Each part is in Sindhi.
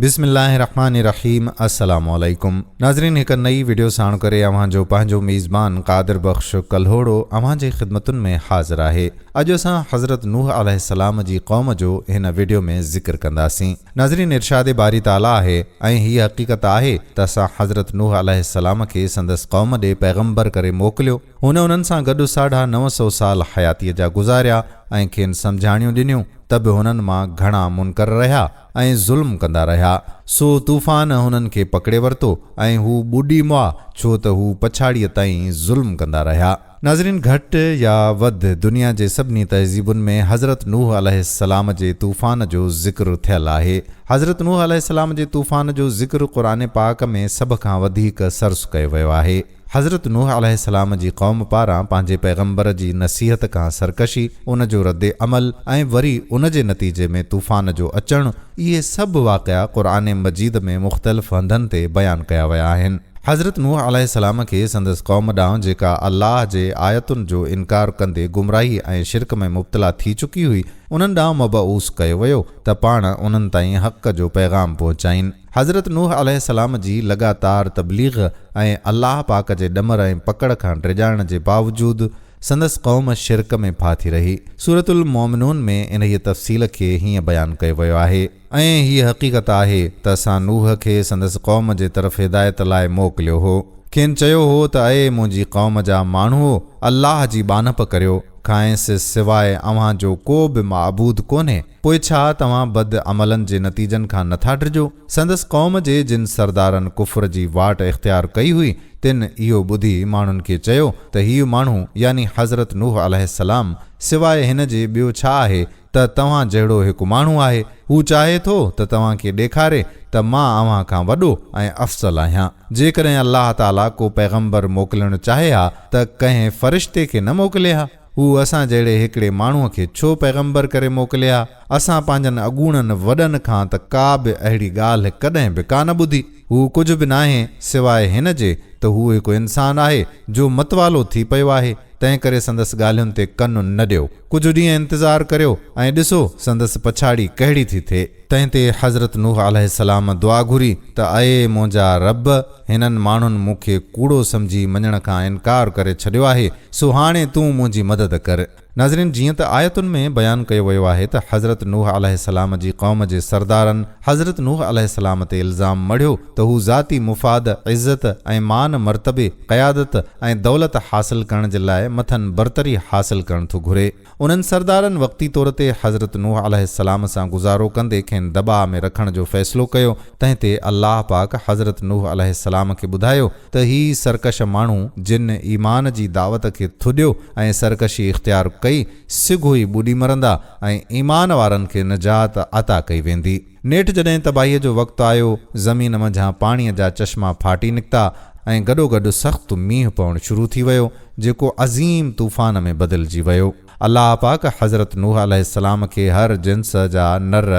بسم الله الرحمن الرحيم السلام عليڪم ناظرين هڪ نئي وڊيو ساڻ ڪري اوهان جو پنهنجو ميزبان قادر بخش ڪلهوڙو اوهان جي خدمتن ۾ حاضر آهي اڄ اسان حضرت نوح عليه السلام جي قوم جو هن وڊيو ۾ ذڪر ڪنداسين ناظرين ارشاد باري تعالي آهي ۽ هي حقيقت آهي ته اسان حضرت نوح عليه السلام کي سندس قوم ڏي پيغمبر ڪري موڪليو هن انهن سان گڏ ساڍا نو سو سال حياتي جا گذاريا ۽ کين سمجهاڻيون ڏنيون ته به هنن مان گهڻا منڪر رهيا ۽ ظلم ڪندا رهيا، سو طوفان هنن کي پڪڙي ورتو ۽ هو ٻڏي مئا ڇو ته هو پڇاڙيء تائين ظلم ڪندا رهيا. ناظرين گهٽ يا وڌ دنيا جي سڀني تهذيبن ۾ حضرت نوح عليه السلام جي طوفان جو ذڪر ٿيل آهي. حضرت نوح عليه السلام جي طوفان جو ذڪر قرآن پاڪ ۾ سڀ کان وڌيڪ سرس ڪيو ويو آهي. حضرت نوح عليه السلام جي قوم پاران پنهنجي پيغمبر جي نصيحت کان سرڪشي، ان جو رد عمل ۽ وري ان جي نتيجي ۾ طوفان جو اچڻ، اهي سڀ واقعا قرآن مجيد ۾ مختلف هنڌن تي بيان ڪيا ويا آهن. حضرت نوح عليه السلام کي سندس قوم ڏانهن جيڪا الله جي آيتن جو انڪار ڪندي گمراهي ۽ شرڪ ۾ مبتلا ٿي چڪي هئي، انهن ڏانهن مبعوث ڪيو ويو ته پاڻ انهن تائين حق جو پيغام پهچائين. حضرت نوح عليه السلام جي لڳاتار تبليغ ۽ الله پاڪ جي ڏمر ۽ پڪڙ کان ڊڄائڻ جي باوجود سندس قوم شرڪ ۾ ڦاٿي رهي. سورة المومنون ۾ انهيء تفصيل کي هيئن بيان ڪيو ويو آهي. ۽ هيء حقيقت آهي ته اسان نوح کي سندس قوم جي طرف هدايت لاء موڪليو هو. کين چيو هو ته اي منهنجي قوم جا ماڻهوء! الله جي ٻانهپ ڪريو، کانئس سواء اوهان جو ڪو به معبود ڪونهي. پوء ڇا توهان بد عملن جي نتيجن کان نٿا ڊڄو؟ سندس قوم جي جن سردارن ڪفر جي واٽ اختيار ڪئي هئي، تن اهو ٻڌي ماڻهن کي چيو ته هي ماڻهو يعني حضرت نوح عليه السلام سواء هن جي ٻيو ڇا آهي ته توهان جهڙو هڪ ماڻهو آهي، هو چاهي ٿو ته توهان کي ڏيکاري ته مان اوهان کان وڏو ۽ افضل آهيان. جيڪڏهن الله تعاليٰ ڪو پيغمبر موڪلڻ چاهي ها ته ڪنهن فرشتي کي نه موڪلي ها؟ هو اسان جهڙي هڪڙي ماڻهوء کي ڇو پيغمبر ڪري موڪليا؟ اسان پنهنجن اڳوڻن وڏن کان ته ڪا به اهڙي ڳالهه ڪڏهن به ڪانه ٻڌي. هو ڪجهه به ناهي سواء هن جي ته هو هڪ انسان آهي جو متوالو ٿي پيو آهي، تنهنڪري سندس ڳالهين تي ڪن نه ڏيو. ڪجهه ڏينهن انتظار ڪريو ۽ ڏسو سندس پڇاڙي ڪهڙي ٿي ٿئي. تنهن تي حضرت نوح عليه السلام دعا گهري ته اي منهنجا رب! هنن ماڻهن مون کي ڪوڙو سمجهي مڃڻ کان انڪار ڪري ڇڏيو آهي، سو هاڻي تون منهنجي مدد ڪر. ناظرين جيئن ته آيتن ۾ بيان ڪيو ويو آهي ته حضرت نوح عليه السلام جي قوم جي سردارن حضرت نوح عليه السلام تي الزام مڙهيو ته هو ذاتي مفاد، عزت ۽ مان مرتبي، قيادت ۽ دولت حاصل ڪرڻ جي لاء مٿن برتري حاصل ڪرڻ ٿو گهري. انهن سردارن وقتي طور تي حضرت نوح عليه السلام سان گذارو ڪندي کين دٻاء ۾ رکڻ جو فيصلو ڪيو، تنهن تي الله پاڪ حضرت نوح عليه السلام کي ٻڌايو ته هي سرڪش ماڻهو جن ايمان جي دعوت کي ٿڏيو ۽ سرڪشي اختيار ڪئي، سگهو ئي ٻڏي مرندا ۽ ايمان وارن کي نجات عطا ڪئي ويندي. نيٺ جڏهن تباهيء جو وقت آيو، زمين منجهان پاڻيء جا چشما ڦاٽي نڪتا ۽ گڏوگڏ سخت مينهن پوڻ شروع ٿي ويو، جيڪو عظيم طوفان ۾ بدلجي ويو. الله پاڪ حضرت نوح عليه السلام کي هر جنس جا نر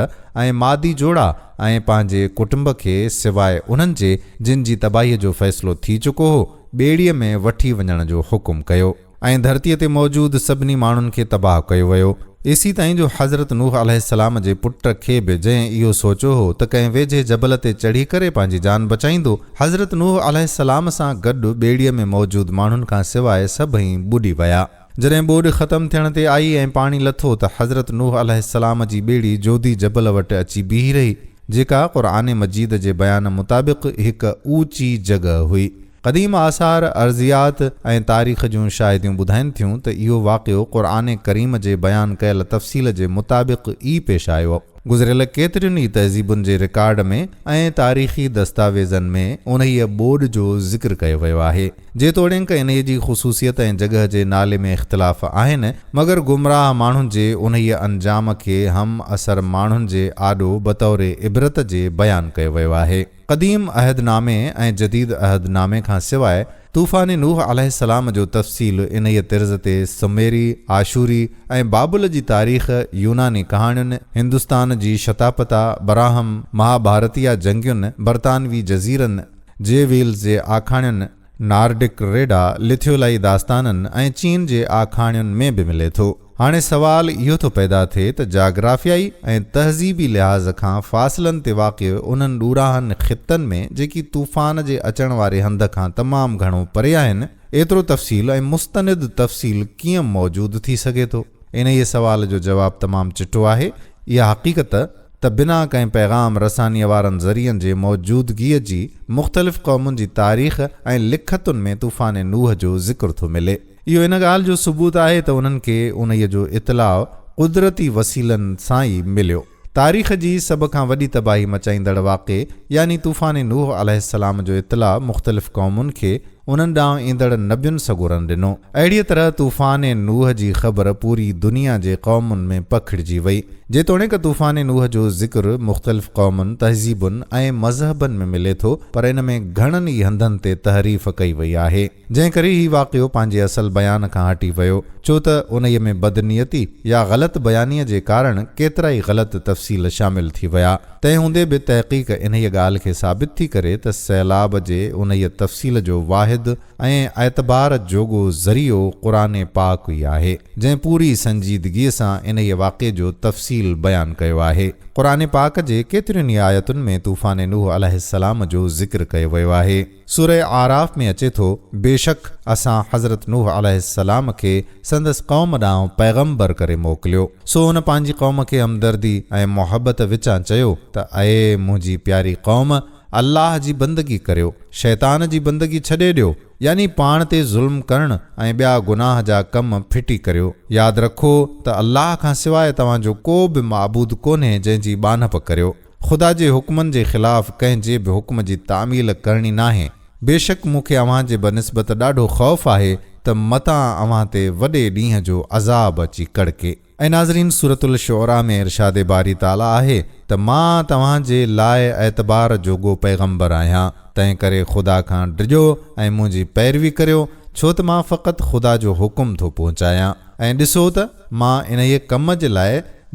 ۽ مادي جوڙا ۽ پنهنجي ڪٽنب کي سواء انهن جي جن جي تباهيء جو فيصلو ٿي چڪو هو، ٻيڙيء ۾ وٺي وڃڻ جو حڪم ڪيو. ۽ ڌرتيء تي موجود سڀني ماڻهن کي تباهه ڪيو ويو. ايسي تائين جو حضرت نوح عليه السلام جي پٽ کي به جنهن اهو سوچيو هو ته ڪنهن ويجهي جبل تي چڙهي ڪري پنهنجي جان بچائيندو، حضرت نوح عليه السلام سان گڏ ٻيڙيء ۾ موجود ماڻهن کان سواء سڀئي ٻڏي ويا. جڏهن ٻوڏ ختم ٿيڻ تي آئي ۽ پاڻي لٿو ته حضرت نوح عليه السلام جي ٻيڙي جودي جبل وٽ اچي بيهي رهي، جيڪا قرآن مجيد جي بيان مطابق هڪ اوچي جڳهه هئي. قديم آثار، ارضيات ۽ تاريخ جون شاهديون ٻڌائين ٿيون ته اهو واقعو قرآن ڪريم جي بيان ڪيل تفصيل جي مطابق ئي پيش آيو. گذريل ڪيترين ئي تهذيبن جي رڪارڊ ۾ ۽ تاريخي دستاويزن ۾ انهيء ٻوڏ جو ذڪر ڪيو ويو آهي. جيتوڻيڪ انهيء جي خصوصيت ۽ جڳهه جي نالي ۾ اختلاف آهن، مگر گمراهه ماڻهن جي انهيء انجام کي همعصر ماڻهن جي آڏو بطور عبرت جي بيان ڪيو ويو آهي. قديم عهد نامي ۽ جديد عهد نامي کان سواء طوفان نوح عليه السلام جو تفصيل انهيء طرز تي سميري، آشوري ۽ بابل جي تاريخ، يوناني ڪهاڻين، هندستان جي شتاپتا، براهم، مها ڀارتيه جنگين، برطانوي جزيرن، جي ويلز جي آکاڻين، نارڊڪ ريڊا لٿيولائي داستانن ۽ چين جي آکاڻين ۾ به ملي ٿو. هاڻي سوال اهو ٿو پيدا ٿئي ته جاگرافيائي ۽ تهذيبي لحاظ کان فاصلن تي واقع انهن ڏورانهن خطن ۾ جيڪي طوفان جي اچڻ واري هنڌ کان تمام گهڻو پري آهن ايترو تفصيل ۽ مستند تفصيل ڪيئن موجود ٿي سگهي ٿو؟ انهيء سوال جو جواب تمام چٽو آهي. اها حقيقت ته بنا ڪنهن پيغام رسانيء وارن ذريعن جي موجودگيء جي مختلف قومن جي تاريخ ۽ لکتن ۾ طوفان نوح جو ذڪر ٿو ملي. اهو ان ڳالهه جو ثبوت آهي ته انهن کي انهيء جو اطلاع قدرتي وسيلن سان ئي مليو. تاريخ جي سڀ کان وڏي تباهي مچائيندڙ واقعي يعني طوفان نوح عليه السلام جو اطلاع مختلف قومن کي، انهن ڏانهن ايندڙ نبين سڳورن ڏنو. اهڙيء طرح طوفان نوح جي خبر پوري دنيا جي قومن ۾ پکڙجي وئي. جيتوڻيڪ طوفان نوح جو ذڪر مختلف قومن، تهذيبن ۽ مذهبن ۾ ملي ٿو، پر ان ۾ گهڻن ئي هنڌن تي تحريف ڪئي وئي آهي، جنهن ڪري هي واقعو پنهنجي اصل بيان کان هٽي ويو، ڇو ته انهيء ۾ بدنيتي يا غلط بيانيء جي ڪارڻ ڪيترائي غلط تفصيل شامل ٿي ويا. تنهن هوندي به تحقيق انهيء ڳالهه کي ثابت ٿي ڪري ته سيلاب جي انهيء تفصيل جو واحد ۽ اعتبار جوڳو ذريعو قرآن پاڪ ئي آهي، جنهن پوري سنجيدگيء سان انهيء واقعي جو تفصيل بيان ڪيو آهي. قرآن پاڪ جي ڪيترين ئي آيتن ۾ طوفان نوح عليه السلام جو ذڪر ڪيو ويو آهي. سورة اعراف ۾ اچي ٿو، بيشڪ اسان حضرت نوح عليه السلام کي سندس قوم ڏانهن پيغمبر ڪري موڪليو، سو هن پنهنجي قوم کي همدردي ۽ محبت وچان چيو ته اي منهنجي پياري قوم! الله جي بندگي ڪريو، شيطان جي بندگي ڇڏي ڏيو، يعني پاڻ تي ظلم ڪرڻ ۽ ٻيا گناهه جا ڪم ڦٽي ڪريو. ياد رکو ته الله کان سواء توهان جو ڪو به معبود ڪونهي جنهن جي ٻانهپ ڪريو. خدا جي حڪمن جي خلاف ڪنهن جي به حڪم جي تعميل ڪرڻي ناهي. بيشڪ مون کي اوهان جي بنسبت ڏاڍو خوف آهي ته متان اوهان تي وڏي ڏينهن جو عذاب اچي ڪڙڪي. اي ناظرين! سورة الشعراء ۾ ارشاد باري تعاليٰ آهي ته مان توهان جي لاء اعتبار جوڳو پيغمبر آهيان، تنهنڪري خدا کان ڊڄو ۽ منهنجي پيروي ڪريو، ڇو ته مان فقط خدا جو حڪم ٿو پهچايان ۽ ڏسو ته مان انهيء ڪم جي لاء،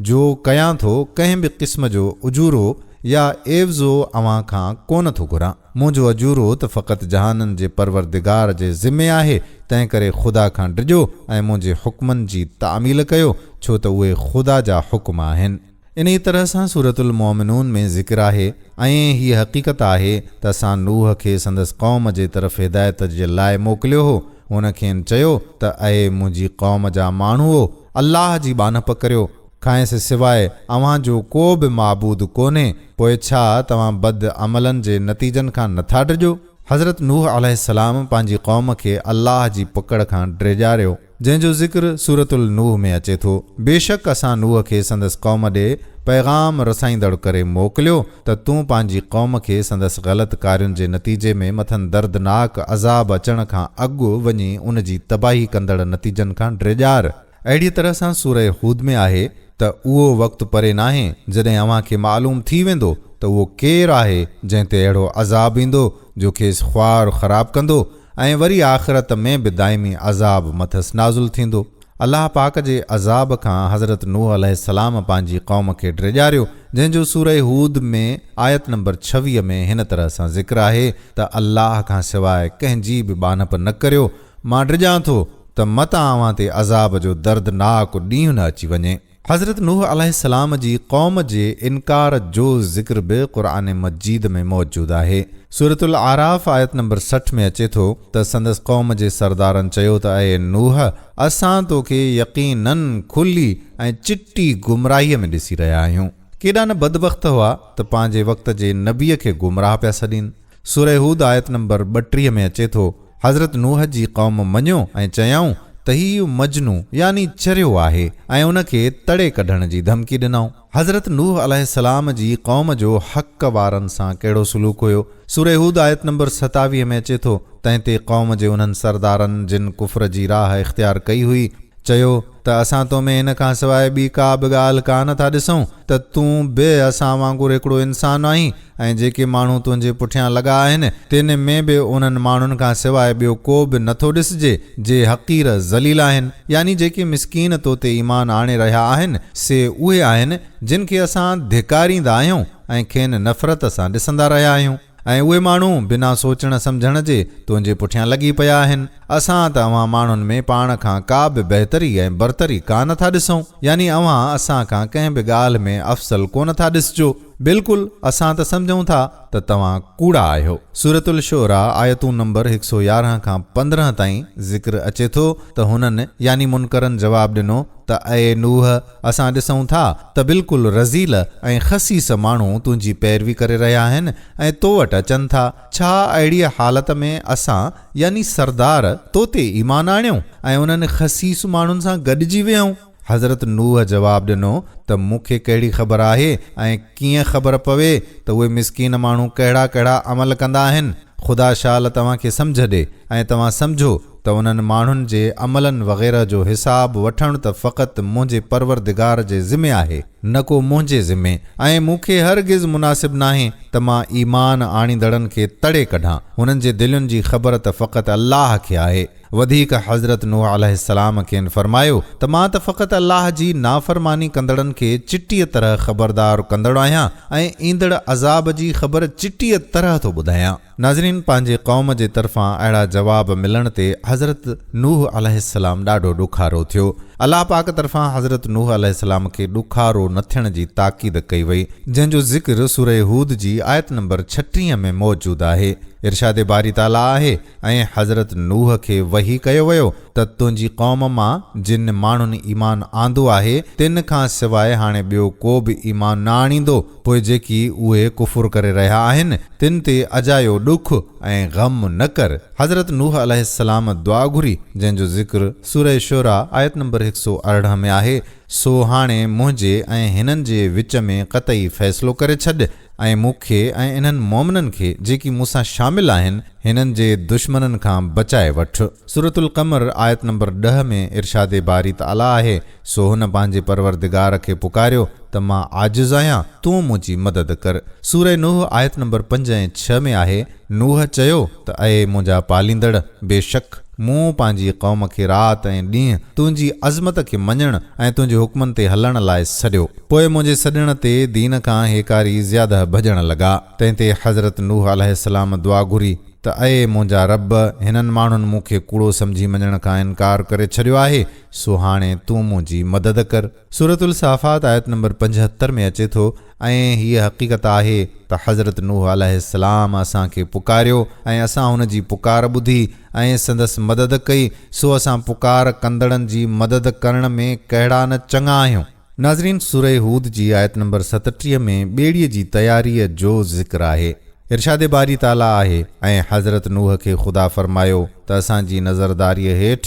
جو ڪيان ٿو، ڪنهن به قسم جو اجورو يا عيوضو اوهان کان ڪونه ٿو گهران. منهنجو اجورو ته فقط جهانن جي پروردگار جي ذمي آهي، تنهنڪري خدا کان ڊڄو ۽ منهنجي حڪمن جي تعميل ڪيو، ڇو ته اهي خدا جا حڪم آهن. انهيء طرح سان سورة المؤمنون ۾ ذڪر آهي ۽ هيء حقيقت آهي ته اسان نوح کي سندس قوم جي طرف هدايت جي لاء موڪليو هو. هن کين چيو ته اي منهنجي قوم جا ماڻهوؤ! الله جي ٻانهپ ڪريو، کانئس سواء اوهان جو ڪو به معبود ڪونهي، پوء ڇا توهان بد عملن جي نتيجن کان نٿا ڊڄو؟ حضرت نوح عليه السلام پنهنجي قوم کي الله جي پڪڙ کان ڊيڄاريو، جنهن جو ذڪر سورة النوح ۾ اچي ٿو، بيشڪ اسان نوح کي سندس قوم ڏي پيغام رسائيندڙ ڪري موڪليو، ته تون پنهنجي قوم کي سندس غلط ڪارين جي نتيجي ۾ مٿن دردناڪ عذاب اچڻ کان اڳ وڃي ان جي تباهي ڪندڙ نتيجن کان ڊيڄار. اهڙيء طرح سان سوره هود ۾ آهي ته اهو وقت پري ناهي جڏهن اوهان کي معلوم ٿي ويندو ته اهو ڪير آهي جنهن تي اهڙو عذاب ايندو جو کيس خوار خراب ڪندو ۽ وري آخرت ۾ به دائمي عذاب مٿس نازل ٿيندو. الله پاڪ جي عذاب کان حضرت نوح عليه السلام پنهنجي قوم کي ڊيڄاريو، جنهن جو سوره هود ۾ آيت نمبر ڇويهه ۾ هن طرح سان ذڪر آهي ته الله کان سواء ڪنهن جي به ٻانهپ نه ڪريو، مان ڊڄان ٿو ته مت اوهان تي عذاب جو دردناڪ ڏينهن نه اچي وڃي. حضرت نوح عليه السلام جي قوم جي انڪار جو ذڪر به قرآن مجيد ۾ موجود آهي. سورة الاعراف آيت نمبر سٺ ۾ اچي ٿو ته سندس قوم جي سردارن چيو ته اي نوح! اسان تو کي يقيناً کلي ۽ چٽي گمراهيء ۾ ڏسي رهيا آهيون. ڪيڏا نه بدبخت هئا ته پنهنجي وقت جي نبيء کي گمراهه پيا سڏين. سورة هود آيت نمبر ٻٽيهه ۾ اچي ٿو، حضرت نوح جي قوم مڃيو ۽ چيائون ته هيء مجنون يعني چريو آهي ۽ ان کي تڙي ڪڍڻ جي ڌمڪي ڏنائون. حضرت نوح عليه السلام جي قوم جو حق وارن سان ڪهڙو سلوڪ هيو؟ سورة هود آيت نمبر ستاويهه ۾ اچي ٿو، تنهن تي قوم جي انهن سردارن جن ڪفر جي راهه اختيار ڪئي هئي، چيو ته اسان تو ۾ ان کان سواء ٻي ڪا به ڳالهه ڪا نه ٿا ڏسون ته تون به اسان وانگر هڪڙو انسان آهين، ۽ جيڪي ماڻهو تنهنجي پٺيان لڳا آهن، تن ۾ به انهن ماڻهن کان سواء ٻيو ڪو به نه ٿو ڏسجي، جي حقير، ذليل، آهن، يعني جيڪي مسڪين تو تي ايمان آڻي رهيا آهن، سي اهي آهن، جن کي اسان ڌڪاريندا آهيون ۽ کين نفرت سان ڏسندا رهيا آهيون، ۽ اهي ماڻهو بنا سوچڻ سمجهڻ جي تنهنجي پٺيان لڳي پيا آهن، اسان ته اوهان ماڻهن ۾ پاڻ کان ڪا به بهتري ۽ برتري ڪا نه ٿا ڏسون، يعني اوهان اسان کان ڪنهن به ڳالهه ۾ افضل ڪونه ٿا ڏسجو. بلڪل اسان ته سمجهون ٿا ته توهان ڪوڙا آهيو. سورة الشعراء آيتون نمبر هڪ سؤ يارهن کان پندرهن تائين ذڪر اچي ٿو ته هنن يعني منڪرن جواب ڏنو ته اي نوح اسان ڏسون ٿا ته بلڪل رذيل ۽ خسيس ماڻهو تنهنجي پيروي ڪري رهيا آهن ۽ تو وٽ اچن ٿا ڇا اهڙيء حالت ۾ اسان يعني سردار تو تي ايمان آڻيون ۽ انهن خسيس ماڻهن سان گڏجي ويهون. حضرت نوح جواب ڏنو ته مون کي ڪهڙي خبر آهي ۽ ڪيئن خبر پوي ته اهي مسڪين ماڻهو ڪهڙا ڪهڙا عمل ڪندا آهن؟ خدا شال توهان کي سمجهه ڏي ۽ توهان سمجهو ته انهن ماڻهن جي عملن وغيره جو حساب وٺڻ ته فقط منهنجي پروردگار جي ذمي آهي نه ڪو منهنجي ذمي ۽ مون کي هرگز مناسب ناهي ته مان ايمان آڻيندڙن کي تڙي ڪڍان، انهن جي دلين جي خبر ته فقط الله کي آهي. وڌيڪ حضرت نوح عليه السلام کين فرمايو ته مان ته فقط الله جي نافرماني ڪندڙن کي چٽيء طرح خبردار ڪندڙ آهيان ۽ ايندڙ عذاب جي خبر چٽيء طرح ٿو ٻڌايان. ناظرين پنهنجي قوم جي طرفان اهڙا جواب ملڻ تي حضرت نوح عليه السلام ڏاڍو ڏکارو ٿيو. الله پاڪ طرفان حضرت نوح عليه السلام کي ڏکارو نه ٿيڻ جي تاڪيد ڪئي وئي جنهن جو ذڪر سورة هود جي آيت نمبر ڇٽيهه ۾ موجود آهي. ارشاد باري تعاليٰ آهي. ۽ حضرت نوح کي وحي ڪيو ويو ته تنهنجي قوم مان جن ماڻهن ايمان آندو آهي تن کان سواء هاڻي ٻيو ڪو به ايمان نه آڻيندو پوء جيڪي اهي ڪفر ڪري رهيا آهن تن تي اجايو ڏک ۽ غم نه ڪر حضرت نوح عليه السلام دعا گهري جنهن جو ذڪر سوره شعراء آيت نمبر هڪ سؤ ارڙهن ۾ آهي سو هاڻي منهنجي ۽ هنن جي وچ ۾ قطعي فيصلو ڪري ڇڏ. ۽ مون کي ۽ انهن مؤمنن کي جيڪي مون سان شامل آهن هنن جي دشمنن کان بچائي وٺ. سورة القمر آيت نمبر ڏهه ۾ ارشاد باري تعاليٰ آهي، سو هن پنهنجي پروردگار کي پڪاريو ته مان عاجز آهيان تون منهنجي مدد ڪر. سورة نوح آيت نمبر پنج ۽ ڇهه ۾ آهي، نوح چيو ته اي منهنجا پاليندڙ! بيشڪ مون پنهنجي قوم کي رات ۽ ڏينهن تنهنجي عظمت کي مڃڻ ۽ تنهنجي حڪمن تي هلڻ لاء سڏيو. پوء منهنجي سڏڻ تي دين کان هيڪاري زياده ڀڄڻ لڳا. تنهن تي حضرت نوح عليه السلام دعا گهري ته اي منهنجا رب! هنن ماڻهن مون کي ڪوڙو سمجهي مڃڻ کان انڪار ڪري ڇڏيو آهي، سو هاڻي تون منهنجي مدد ڪر. سورة الصافات آيت نمبر پنجهتر ۾ اچي ٿو، ۽ هيء حقيقت آهي ته حضرت نوح عليه السلام اسان کي پڪاريو ۽ اسان هن جي پڪار ٻڌي ۽ سندس مدد ڪئي، سو اسان پڪار ڪندڙن جي مدد ڪرڻ ۾ ڪهڙا نه چڱا آهيون. ناظرين! سورة هود جي آيت نمبر ستٽيهه ۾ ٻيڙيء جي تياريء جو ذڪر آهي. ارشاد باري تعاليٰ آهي، ۽ حضرت نوح کي خدا فرمايو ته اسان جي نظرداريء هيٺ،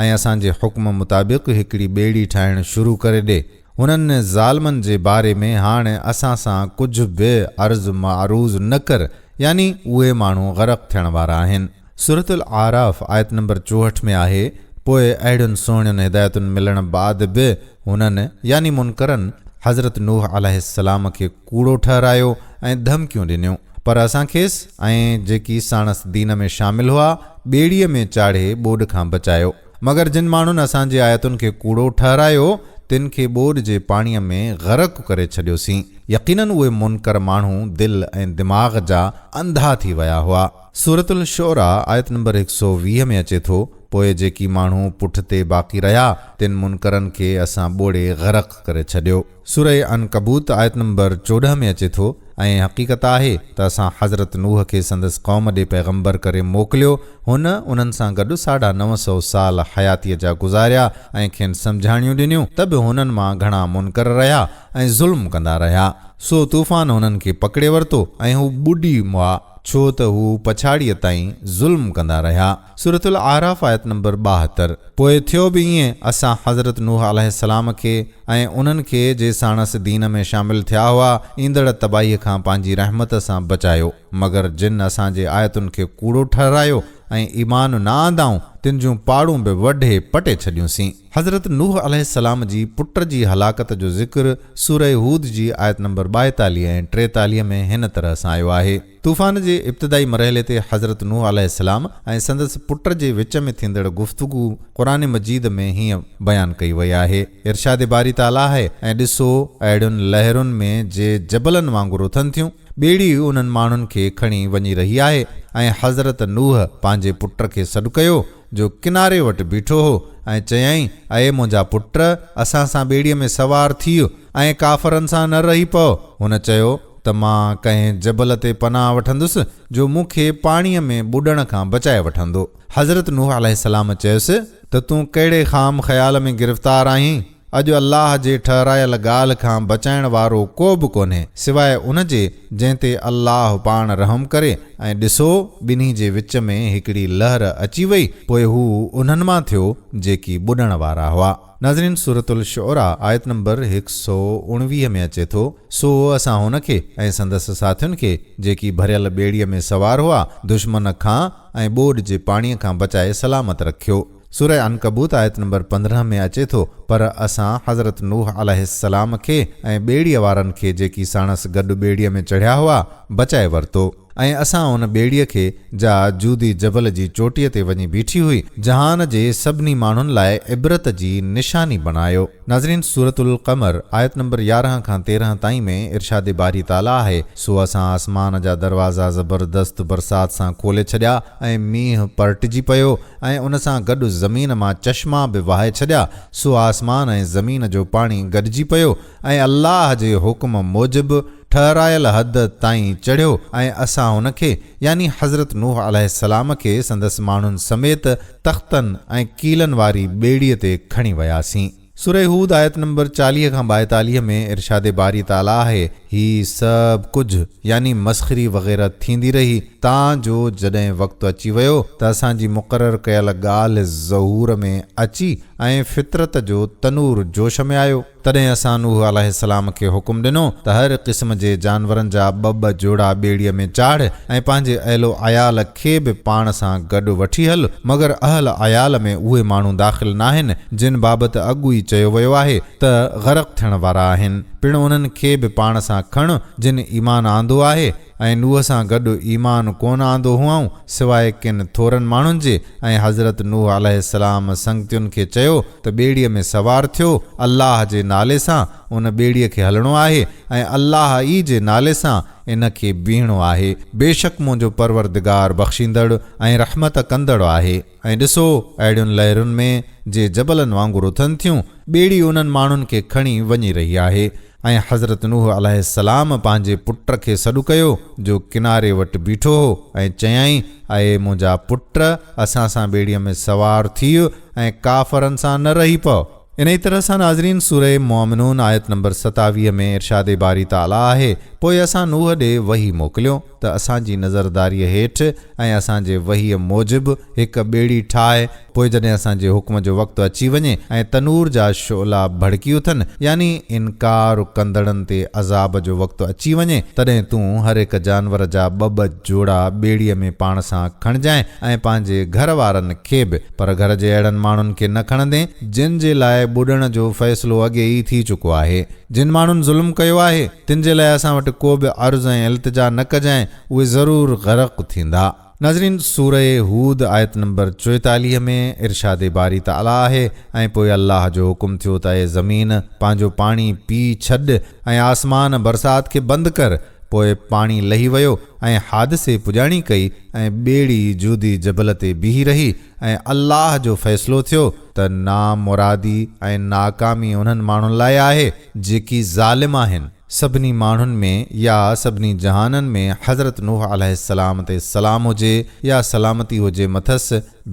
۽ اسان جي حڪم مطابق هڪڙي ٻيڙي ٺاهڻ شروع ڪري ڏي. انهن ظالمن جي باري ۾ هاڻ اسان سان ڪجهه به عرض معروض نه ڪر، يعني اهي ماڻهو غرق ٿيڻ وارا آهن. سورة الاعراف آيت نمبر چوهٺ ۾ آهي، پوء اهڙين سهڻين هدايتن ملڻ بعد به هنن، يعني منڪرن، حضرت نوح عليه السلام کي، ڪوڙو ٺهرايو ۽ ڌمڪيون ڏنيون، پر اسان کيس ۽ جيڪي ساڻس دين ۾ شامل هئا، ٻيڙيء ۾ چاڙهي ٻوڏ کان بچايو. مگر جن ماڻهن اسان جي آيتن کي ڪوڙو ٺهرايو، تن کي ٻوڏ جي پاڻيء ۾ غرق ڪري ڇڏيوسين. يقيناً اهي منڪر ماڻهو دل ۽ دماغ جا انڌا ٿي ويا هئا. سورة الشعراء آيت نمبر هڪ سؤ ويهه ۾ اچي ٿو، پوء جيڪي ماڻهو پٺتي باقي رهيا، تن منڪرن کي اسان ٻوڙي غرق ڪري ڇڏيو. سورة عنڪبوت آيت نمبر چوڏهن ۾ اچي ٿو، ۽ حقيقت آهي ته اسان حضرت نوح کي سندس قوم ڏي پيغمبر ڪري موڪليو، هن انهن سان گڏ ساڍا نو سؤ سال حياتيء جا گذاريا ۽ کين سمجهاڻيون ڏنيون ته به هنن مان گهڻا منڪر رهيا ۽ ظلم ڪندا رهيا، سو طوفان هنن کي پڪڙي ورتو ۽ هو ٻڏي ويا، ڇو ته هو پڇاڙيء تائين ظلم ڪندا رهيا. سورة الاعراف آيت نمبر ٻاهتر پوء ٿيو به ائين اسان حضرت نوح عليه السلام کي ۽ انهن کي جي ساڻس دين ۾ شامل ٿيا هئا ايندڙ تباهيء کان پنهنجي رحمت سان بچايو مگر جن اسان جي آيتن کي ڪوڙو ٺهرايو ۽ ايمان نه آندائون تن جون پاڙون به وڍي پٽي ڇڏيون سين. حضرت نوح عليه السلام جي پٽ جي هلاڪت جو ذڪر سورة هود جي آيت نمبر ٻائيتاليهه ۽ ٽيتاليهه ۾ هن طرح سان آيو آهي. طوفان جي ابتدائي مرحلي تي حضرت نوح عليه السلام ۽ سندس پٽ جي وچ ۾ ٿيندڙ گفتگو قرآن مجيد ۾ هيئن بيان ڪئي وئي آهي، ارشاد باري تعاليٰ آهي ۽ ڏسو! اهڙين لهرن ۾ جي جبلن وانگر اٿن ٿيون، ٻيڙي انهن ماڻهن کي کڻي وڃي رهي آهي ۽ حضرت نوح پنهنجي پٽ کي سڏ ڪيو، جو ڪناري وٽ بيٺو هو ۽ چيائين، اي منهنجا پٽ! اسان سان ٻيڙيء ۾ سوار ٿيء ۽ ڪافرن سان نه رهي پؤ. هن چيو ته مان ڪنهن جبل تي پناهه وٺندس، جو مون کي پاڻيء ۾ ٻڏڻ کان بچائي وٺندو. حضرت نوح عليه السلام چيس ته تون ڪهڙي خام خيال ۾ گرفتار آهين؟ اڄ الله جي ٺهرايل ڳالهه کان بچائڻ وارو ڪو به ڪونهي سواء ان جي جنهن تي الله پاڻ رحم ڪري ۽ ڏسو ٻنهي جي وچ ۾ هڪڙي لهر اچي وئي پوء هو انهن مان ٿيو جيڪي ٻڏڻ وارا هئا ناظرين سورة الشعراء آيت نمبر هڪ سؤ اڻويهه ۾ اچي ٿو سو اسان هن کي ۽ سندس ساٿين کي جيڪي ڀريل ٻيڙيء ۾ سوار هئا دشمن کان ۽ ٻوڏ جي پاڻيء کان بچائي سلامت رکيو. سوره عنڪبوت آيت نمبر پندرهن ۾ اچي ٿو، پر اسان حضرت نوح عليه السلام کي ۽ ٻيڙيء وارن کي جيڪي ساڻس گڏ ٻيڙيء ۾ چڙهيا هئا، بچائي ورتو ۽ اسان ان ٻيڙيء کي، جا جودي جبل جي چوٽيء تي وڃي بيٺي هئي، جهان جي سڀني ماڻهن لاء عبرت جي نشاني بڻايو. ناظرين! سورة القمر آيت نمبر يارهن کان تيرهن تائين ۾ ارشاد باري تعاليٰ آهي، سو اسان آسمان جا دروازا زبردست برسات سان کولي ڇڏيا ۽ مينهن پرٽجي پيو، ۽ ان سان گڏ زمين مان چشما به وهائي ڇڏيا، سو آسمان ۽ زمين جو پاڻي گڏجي پيو ۽ الله جي حڪم موجب ٺهرايل حد تائين چڙهيو ۽ اسان هن کي، يعني حضرت نوح عليه السلام کي سندس ماڻهن سميت تختن ۽ ڪيلن واري ٻيڙيء تي کڻي وياسين. سورة هود آيت نمبر چاليهه کان ٻائيتاليهه ۾ ارشاد باري تعاليٰ آهي، هي سڀ ڪجهه يعني مسخري وغيره ٿيندي رهي تان جو جڏهن وقت اچي ويو ته اسان جي مقرر ڪيل ڳالهه ظهور ۾ اچي ۽ فطرت جو تنور جوش ۾ آيو، تڏهن اسان نوح عليه السلام کي حڪم ڏنو ته هر قسم جي جانورن جا ٻه ٻه جوڙا ٻيڙيء ۾ چاڙهه ۽ پنهنجي اهل و عيال کي به پاڻ سان گڏ وٺي هل، مگر اهل عيال ۾ اهي ماڻهو داخل ناهن، جن بابت اڳ ئي چيو ويو آهي ته غرق ٿيڻ وارا آهن. پڻ انهن کي به پاڻ سان کڻ، جن ايمان آندو آهي، ۽ نوح سان گڏ ايمان ڪونه آندو هئائون، سواء ڪن ٿورن ماڻهن جي، ۽ حضرت نوح عليه السلام سنگتين کي چيو ته ٻيڙيء ۾ سوار ٿيو، الله جي نالي سان، ان ٻيڙيء کي هلڻو آهي، ۽ الله ئي جي نالي سان، ان کي بيهڻو آهي. بيشڪ منهنجو پروردگار بخشيندڙ ۽ رحمت ڪندڙ آهي. ۽ ڏسو، اهڙين لهرن ۾، جي جبلن وانگر اٿن ٿيون، ٻيڙي انهن ماڻهن کي کڻي وڃي رهي آهي. ۽ حضرت نوح عليه السلام پنهنجي پٽ کي سڏ ڪيو، جو ڪناري وٽ بيٺو هو، ۽ چيائين، اي منهنجا پٽ! اسان سان ٻيڙيء ۾ سوار ٿيء ۽ ڪافرن سان نه رهي پء. انهيء طرح سان ناظرين سورة مؤمنون آيت نمبر ستاويهه ۾ ارشاد باري تعاليٰ آهي، پوء اسان نوح ڏي وحي موڪليو ته اسان جي نظرداريء هيٺ ۽ اسان جي وحيء موجب هڪ ٻيڙي ٺاهه، پوء جڏهن اسان جي حڪم جو وقت اچي وڃي ۽ تنور جا شعلا ڀڙڪي اٿن، يعني انڪار ڪندڙن تي عذاب جو وقت اچي وڃي، تڏهن تون هر هڪ جانور جا ٻه ٻه جوڙا ٻيڙيء ۾ پاڻ سان کڻجانء ۽ پنهنجي گهر وارن کي به. پر گهر جي اهڙن ماڻهن کي نه کڻندين جن جي لاء ٻڏڻ جو فيصلو اڳي ئي ٿي چڪو آهي. جن ماڻهن ظلم ڪيو آهي تن جي لاء اسان وٽ ڪو به عرض ۽ التجا نه ڪجانء اهي ضرور غرق ٿيندا. ناظرين! سورة هود آيت نمبر چوئيتاليهه ۾ ارشاد باري تعاليٰ آهي، ۽ پوء الله جو حڪم ٿيو ته اي زمين! پنهنجو پاڻي پي ڇڏ ۽ آسمان، برسات، کي بند ڪر. پوء پاڻي لهي ويو ۽ حادثي پڄاڻي ڪئي ۽ ٻيڙي جودي جبل تي بيهي رهي ۽ الله جو فيصلو ٿيو ته نامرادي ۽ ناڪامي انهن ماڻهن لاء آهي جيڪي ظالم آهن سڀني ماڻهن ۾ يا سڀني جهانن ۾ حضرت نوح عليه السلام تي سلام هجي يا سلامتي هجي مٿس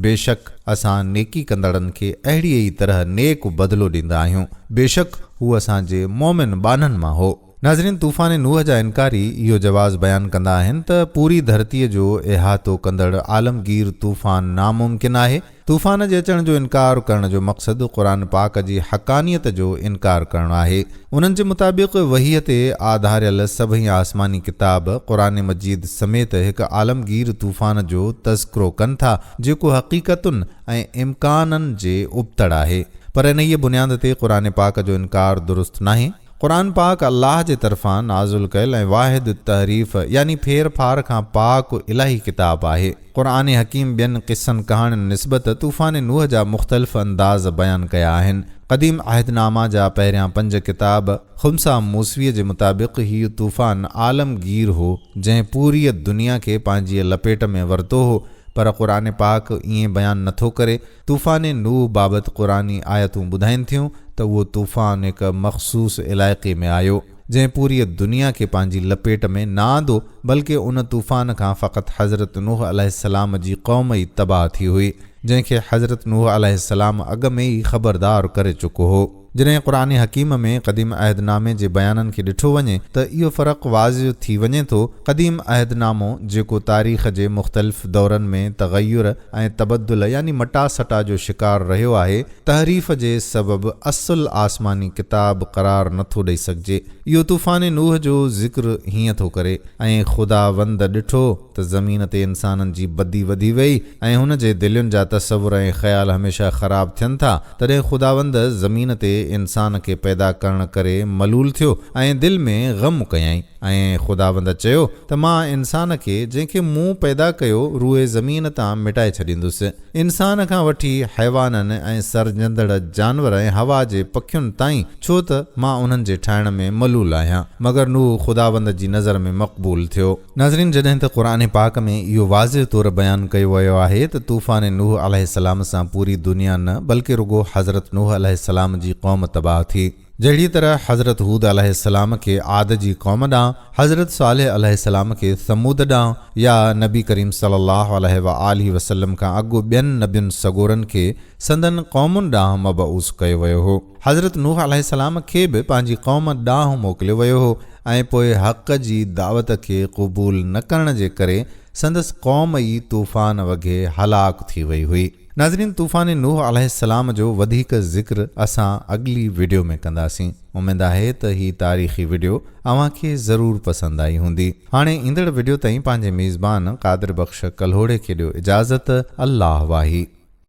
بيشڪ اسان نيڪي ڪندڙن کي اهڙيء ئي طرح نيڪ بدلو ڏيندا آهيون بيشڪ هو اسان جي مؤمن ٻانهن مان هو. ناظرين طوفان نوح جا انڪاري اهو جواز بيان ڪندا آهن ته پوري ڌرتي جو احاطو ڪندڙ عالمگير طوفان ناممڪن آهي. طوفان جي اچڻ جو انڪار ڪرڻ جو مقصد قرآن پاڪ جي حقانيت جو انڪار ڪرڻ آهي. انهن جي مطابق وحيء تي آڌاريل سڀئي آسماني ڪتاب قرآن مجيد سميت هڪ عالمگير طوفان جو تذڪرو ڪن ٿا جيڪو حقيقتن ۽ امڪانن جي ابتڙ آهي پر انهيء بنياد تي قرآن پاڪ جو انڪار درست ناهي. قرآن پاڪ الله جي طرفان نازل ڪيل ۽ واحد التحريف يعني ڦير ڦار کان پاڪ الاهي ڪتاب آهي. قرآن حڪيم ٻين قصن ڪهاڻين نسبت طوفان نوح جا مختلف انداز بيان ڪيا آهن. قديم عهدنامه جا پهريان پنج ڪتاب خمسه موسويء جي مطابق هيء طوفان عالمگير هو جنهن پوريء دنيا کي پنهنجيء لپيٽ ۾ ورتو هو پر قرآن پاڪ ائين بيان نٿو ڪري طوفان نوح بابت قرآني آيتون ٻڌائين ٿيون ته اهو طوفان هڪ مخصوص علائقي ۾ آيو، جنهن پوريء دنيا کي پنهنجي لپيٽ ۾ نه آندو، بلڪه ان طوفان کان فقط حضرت نوح عليه السلام جي قوم ئي تباهه ٿي هئي، جنهن کي حضرت نوح عليه السلام اڳ ۾ ئي خبردار ڪري چڪو هو. جڏهن قرآن حڪيم ۾ قديم عهد نامي جي بيانن کي ڏٺو وڃي ته اهو فرق واضع ٿي وڃي ٿو، قديم عهد نامو جيڪو تاريخ جي مختلف دورن ۾ تغير ۽ تبدل يعني مٽا سٽا جو شڪار رهيو آهي، تحريف جي سبب اصل آسماني ڪتاب قرار نه ٿو ڏئي سگهجي. اهو طوفان نوح جو ذڪر هيئن ٿو ڪري، ۽ خداوند ڏٺو، ته زمين تي انسانن جي بدي وڌي وئي ۽ هن جي دلين جا تصور ۽ خيال هميشه خراب ٿين ٿا، تڏهن خداوند زمين تي انسان کي پيدا ڪرڻ ڪري ملول ٿيو ۽ دل ۾ غم ڪيائين ۽ خداوند چيو ته مان انسان کي جنهن کي مون پيدا ڪيو روئي زمين تان مٽائي ڇڏيندس. انسان کان وٺي حيوانن ۽ سرجندڙ جانور ۽ هوا جي پکين تائين ڇو ته مان انهن جي ٺاهڻ ۾ ملول آهيان. مگر نوح خداوند جي نظر ۾ مقبول ٿيو. ناظرين جڏهن ته قرآن پاڪ ۾ اهو واضح طور بيان ڪيو ويو آهي ته طوفان نوح عليه السلام سان پوري دنيا نه بلڪه رڳو حضرت نوح عليه السلام جي قوم تباهه ٿي جهڙي طرح حضرت هود عليه السلام کي عاد جي قوم ڏانهن حضرت صالح عليه السلام کي ثمود ڏانهن يا نبي ڪريم صلي الله عليه وآله وسلم کان اڳ ٻين نبين سڳورن کي سندن قومن ڏانهن مبعوث ڪيو ويو هو حضرت نوح عليه السلام کي به پنهنجي قوم ڏانهن موڪليو ويو هو ۽ پوء حق جي دعوت کي قبول نه ڪرڻ جي ڪري سندس قوم ئي طوفان وگهي هلاڪ ٿي وئي هئي. ناظرين طوفان نوح عليه السلام جو وڌيڪ ذڪر اسان اڳلي وڊيو ۾ ڪنداسين. اميد آهي ته هي تاريخي وڊيو اوهان کي ضرور پسند آئي هوندي. هاڻي ايندڙ وڊيو تائين پنهنجي ميزبان قادر بخش ڪلهوڙي کي ڏيو اجازت الله واهي.